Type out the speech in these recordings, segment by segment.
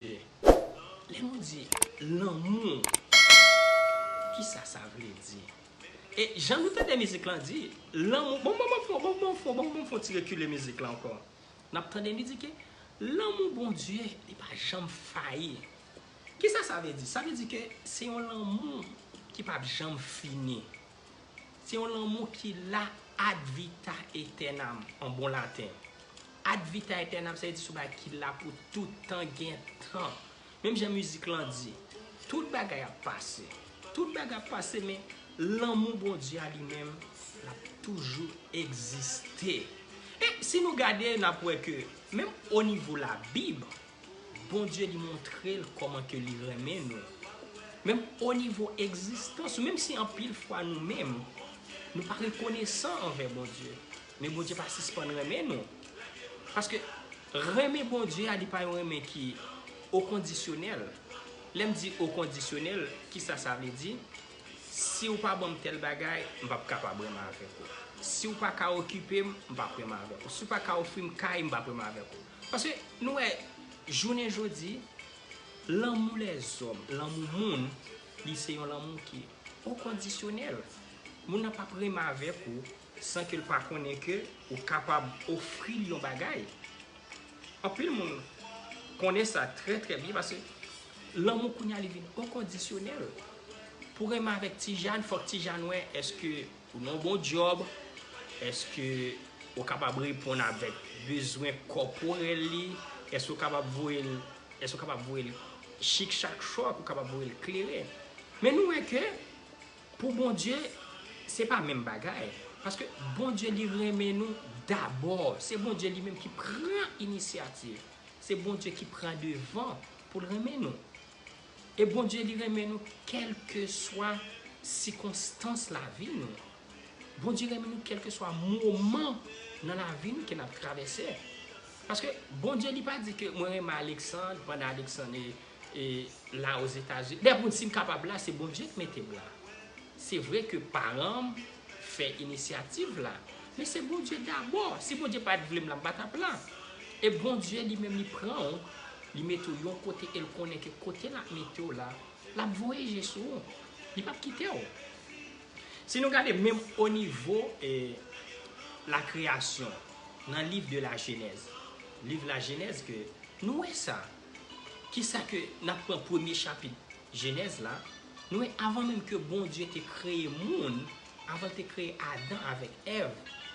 Lè nou di lanmou, ki sa sa vle di? E jan nou tande mizik lan di, lanmou, bon bon bon bon bon bon bon bon fon ti rekile mizik lan ankò. N ap tande li di ke lanmou Bondye li pa janm fayi. Ki sa sa vle di? Sa vle di ke se yon lanmou ki p ap janm fini. Se yon lanmou ki la ad vita etènam an bon laten. Ad vita etènam sa vle di se yon bagay ki la pou tout tan gen tan. Menm jan mizik lan di, tout bagay ap pase. Tout bagay ap pase men lanmou Bondye a li menm l ap toujou egziste. E si nou gade n ap wè ke menm onivo labib, Bondye li montre l kòman ke li renmen nou, menm o nivo egzistans nou, menm si anpil fwa nou menm, nou pa rekonesan anvè Bondye, men Bondye pa sispann renmen nou. Paske, renmen Bondye a li pa yon renmen ki okondisyonèl. Lè m di okondisyonèl, ki sa sa vle di? Si ou pa ban m tèl bagay, m p ap kapab renmen avèk ou. Si ou pa ka okipe m, m p ap renmen avèk ou. Si ou pa ka ofri m kay, m p ap renmen avèk ou. Paske nou wè jounen jodi, lanmou lèzòm, lanmou moun, li se yon lanmou ki okondisyonèl. Moun nan pap renmen avèk ou san ke l pa konnen ke ou kapab ofri l yon bagay. Anpil moun konnen sa trè trè byen paske lanmou kounye a li vin okondisyonèl. Pou renmen avèk Tijane, fòk Tijane wè èske Ou nan bon djòb, èske ou kapab reponn avèk bezwen kòporèl li, èske ou kapab voye l, èske ou kapab voye l chik chak chòk, ou kapab voye l klere. Men nou wè ke pou Bondye se pa menm bagay, paske Bondye li renmen nou dabò, se Bondye li menm ki pran inisyativ, se Bondye ki pran devan pou l renmen nou. E Bondye li renmen nou kèlkeswa sikonstans lavi nou. Bondye renmen nou kèlkeswa moman nan lavi nou ke n ap travèse. Paske Bondye li pa di ke mwen renmen Alexandre pandan Alexandre la Ozetazini. Dayè pou m di si m kapab la se Bondye k mete m la. Se vre ke paran m fè inisyativ la, men se Bondye dabò. Si Bondye pa t vle m la, m pa t ap la. E Bondye li menm li pran ou, li mete ou yon kote e l konnen ke kote l ap mete w la, l ap voye je sou ou. Li p ap kite w. Si nou gade menm onivo lakreyasyon, nan liv de la jenèz, liv lajenèz ke nou wè sa, kisa ke n ap pran premye chapit. Jenèz la, nou wè avan menm ke Bondye te kreye moun, avan l te kreye Adan avèk Èv,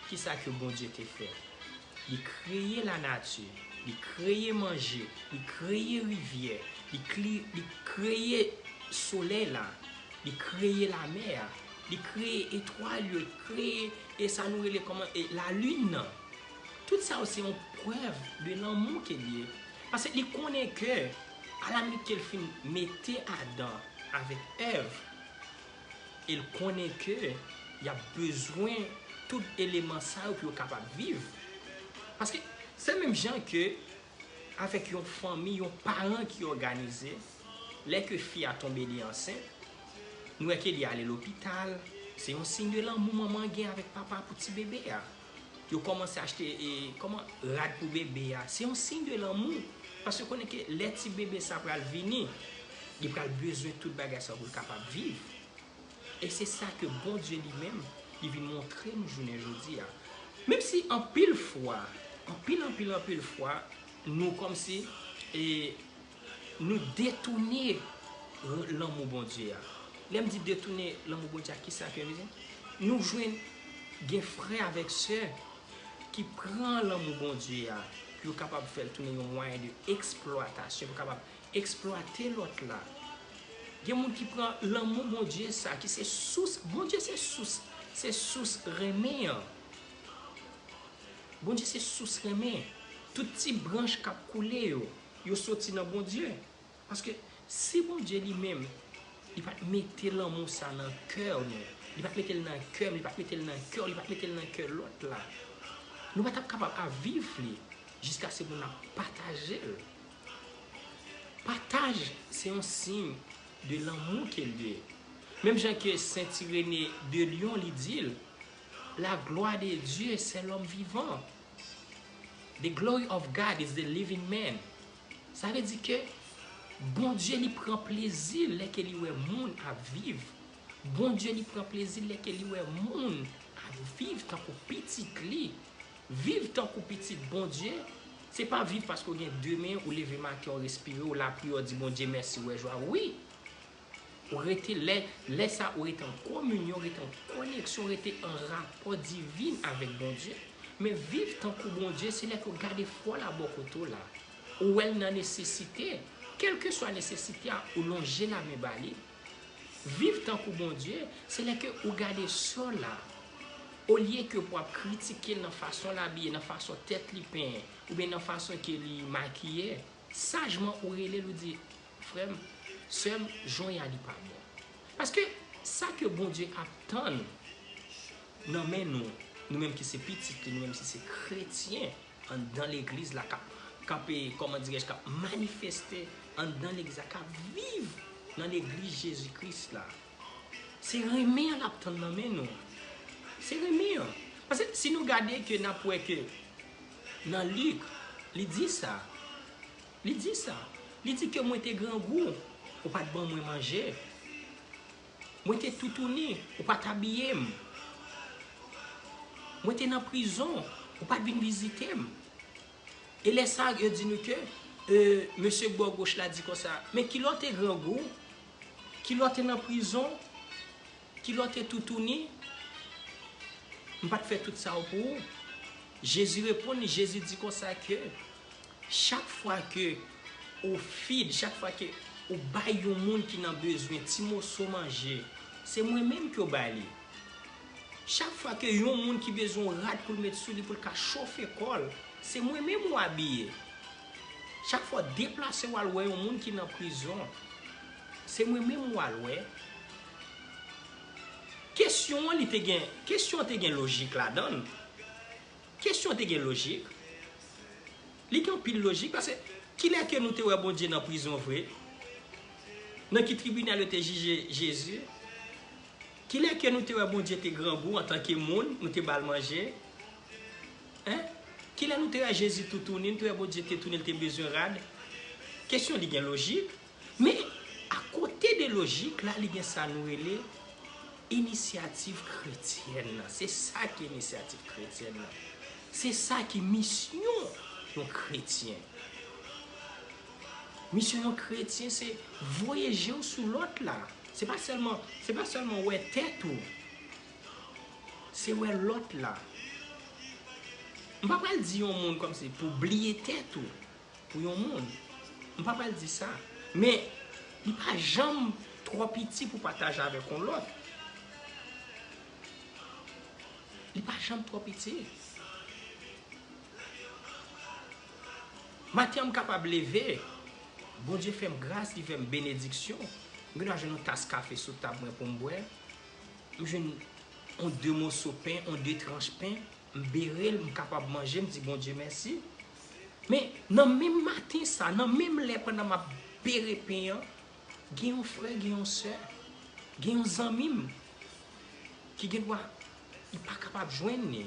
ki sa ke Bondye te fè? Li kreye lanati, li kreye manje, li kreye rivyè, li kli, li kreye solèy la, li kreye lamè a, li kreye etwal yo, li kreye e sa nou rele kòman e lalin nan. Tout sa yo se yon prèv de lanmou ke l ye. Paske li konnen ke. Alamit ke l fin mete Adan avèk Èv, e l konnen ke y ap bezwen tout eleman sa yo pou yo kapab viv. Paske, se menm jan ke avèk yon fanmi, yon paran ki òganize, lè ke fi a tonbe li ansent, nou wè ke li ale lopital, se yon siy de lanmou manman an gen avèk papa pou ti bebe a. Yo komanse achte koman rad pou bebe a. Se yon siy de lanmou. Paske yo konnen ke lè ti bebe sa pral vini, li pral bezwen tout bagay sa pou l kapab viv. E se sa ke Bondye li menm, li vin montre nou jounen jodi a. Menm si anpil fwa, anpil anpil anpil fwa, nou kòmsi, e Nou detoune lanmou Bondye a. Lè m di detoune lanmou Bondye a, ki sa ke m vle di? Nou jwenn gen frè avèk sè ki pran lanmou Bondye a pou yo kapab fè l tounen yon mwayen de eksplwatasyon, pou yo kapab eksplwate lòt la. Gen moun ki pran lanmou Bondye sa ki se sous, Bondye se sous, se sous renmen an. Bondye se sous renmen. Tout ti branch k ap koule yo, Yo soti nan Bondye. Paske si Bondye li menm, li pa t mete lanmou sa nan kè nou, li pa t mete l nan kè m, li pa t mete l nan kè w, li pa t mete l nan kè lòt la, nou pa t ap kapab ap viv li jiskase pou n ap pataje l. Pataj se yon siy de lanmou ke l ye. Menm jan ke Sent Irenee de Lyon li di l, La glwa de Dye se lòm vivan. The glory of God is the living man. Sa vle di ke Bondye li pran plezi lè ke li wè moun ap viv. Bondye li pran plezi lè ke li wè moun ap viv tankou pitit li. Viv tankou pitit Bondye, se pa viv paske ou gen de men, ou leve maten, ou respire, ou lapryè, ou di Bondye mèsi, ou wè jwa. Wi! Ou rete, lè, lè sa ou rete an kominyon, rete an koneksyon, rete an rapò divin avèk Bondye. Men viv tankou Bondye se lè ke w gade frè w la bò kote w la, ou wè l nan nesesite, kèlkeswa nesesite a, ou lonje lamen ba li. Viv tankou Bondye, se lè ke ou gade sè w la, olye ke pou w ap kritike l nan fason l abiye, nan fason tèt li penyen, oubyen nan fason ke li makiye, sajman ou rele l ou di, Frem, sem, jon ya li pa bon. Paske sa ke Bondye ap tann nan men nou, nou menm ki se pitit li, nou menm ki se kretyen anndan legliz la kap kap e koman dirèj kap manifeste anndan legliz la kap viv nan legliz Jezi Kris la. Se renmen an lap tann nan men nou. Se renmen an. Paske si nou gade ke nap wè ke nan Lik li di sa. Li di sa. Li di ke mwen te grangou, ou pa t ban mwen manje. Mwen te toutouni, ou pa t abiye m. Mwen te nan prizon, ou pa t vin vizite m. E lè sa, yo di nou ke, e, mesye k bò goch la di konsa, men kilè w te grangou, kilè w te nan prizon, Kilòte toutouni, m pa t fè tout sa yo pou ou. Jezi reponn li, Jezi di konsa ke, Chak fwa ke ou feed, chak fwa ke ou bay yon moun ki nan bezwen ti moso manje, se mwen menm ke w bay li. Chak fwa ke yon moun ki bezwen yon rad pou l met sou li pou l ka chofe kò l, se mwen menm ou abiye. Chak fwa w deplase w al wè yon moun ki nan prizon, se mwen menm ou al wè. Kesyon an li te gen, kesyon an te gen lojik ladan l. Kesyon an te gen lojik. Li gen anpil lojik pase kilè ke nou te wè Bondye nan prizon vre? Nan ki tribinal yo te jije Jezi? Kilè ke nou te wè Bondye te grangou antanke moun, nou te ba l manje? Hein? Kilè nou te wè Jezi toutouni, nou te wè Bondye te touni, l te bezwen rad? Kesyon li gen lojik. Men, akote de lojik la, li gen sa nou rele inisyativ kretyèn nan. Se sa ki inisyativ kretyèn nan. Se sa ki misyon yon kretyen. Misyon yon kretyen se voye je w sou lòt la. Se pa sèlman, se pa sèlman wè tèt ou. Se wè lòt la. M pa pral di yon moun kòmsi pou bliye tèt ou. Pou yon moun. M pa pral di sa. Men, li pa janm twò piti pou pataje avèk yon lòt. Li pa janm twò piti. Maten an m kapab leve, Bondye fè m gras, li fè m benediksyon, m gen dwa jwenn yon tas kafe sou tab mwen pou m bwè, m jwenn yon de moso pen, yon de tranch pen, M berel m kapab manje m di Bondye mèsi. Men nan menm maten sa, nan menm lè pandan map bere pen an, gen yon frè, gen yon sè, gen yon zanmi m ki gen dwa li pa kapab jwenn li.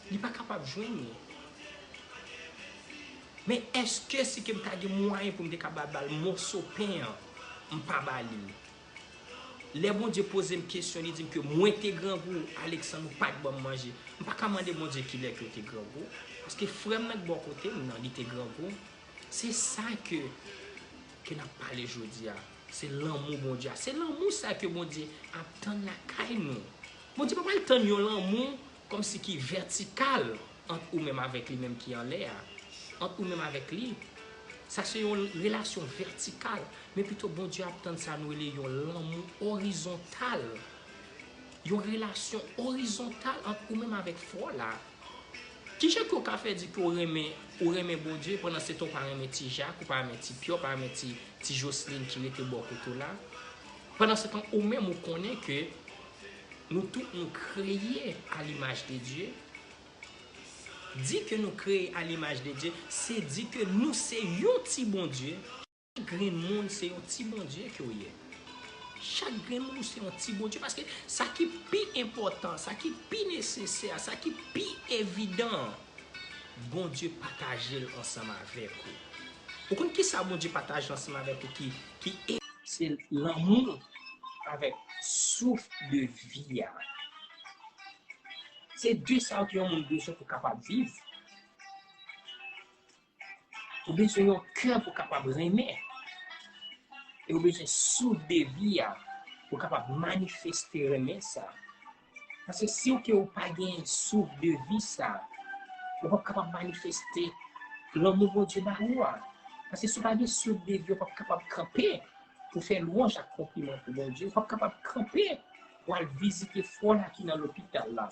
Li pa kapab jwenn li. Men eske si ke m ta gen mwayen pou m te ka ba bal moso pen an, m pa ba li l. Lè Bondye poze m kesyon li di m ke mwen te grangou, Aleksann ou pa t ban m manje. M pa ka mande Bondye ki lè ke w te grangou. Paske frè m nan ki bò kote m nan li te grangou. Se sa ke ke n ap pale jodi a. Se lanmou Bondye a. Se lanmou sa ke Bondye ap tann lakay nou. Bondye pa pral tann yon lanmou Kòmsi ki vètikal ant ou menm avèk li menm ki anlè a, ant ou menm avèk li. Sa se yon relasyon vètikal. Men pito Bondye ap tann sa nou rele yon lanmou orizontal. Yon relasyon orizontal ant ou menm avèk fwa w la. Kijan ke w ka fè di ke w renmen, ou renmen Bondye pandan se tan w pa renmen ti Jak, ou pa renmen ti Pyè, ou pa renmen ti Joslin ki rete bò kote w la? Pandan se tan ou menm ou konnen ke. Nou tout nou kreye a l'image de Dieu. Di ke nou kreye a l'image de Dieu, se di ke nou se yon ti Bondye. Chak grenn moun se yon ti Bondye ke w ye. Chak grenn moun ou se yon ti Bondye. Paske sa ki pi enpòtan, sa ki pi nesesè, sa ki pi evidan an. Bondye pataje l ansanm avèk ou. Ou konn kisa Bondye pataje ansanm avèk ou ki enpòtan? Se lanmou l avèk souf de vi a. Se de sa yo ke yon moun bezwen pou kapab viv. Ou bezwen yon kè pou kapab renmen. E ou bezwen souf de vi a pou kapab manifeste renmen sa. Paske si ou ke ou pa gen souf de vi sa, ou pap kapab manifeste lanmou Bondye ba ou a. Paske si ou pa gen souf de vi, ou pap kapab kanpe pou fè lwanj ak konpliman pou Bondye. Ou pap kapab kanpe pou al vizite frè w la ki nan lopital la.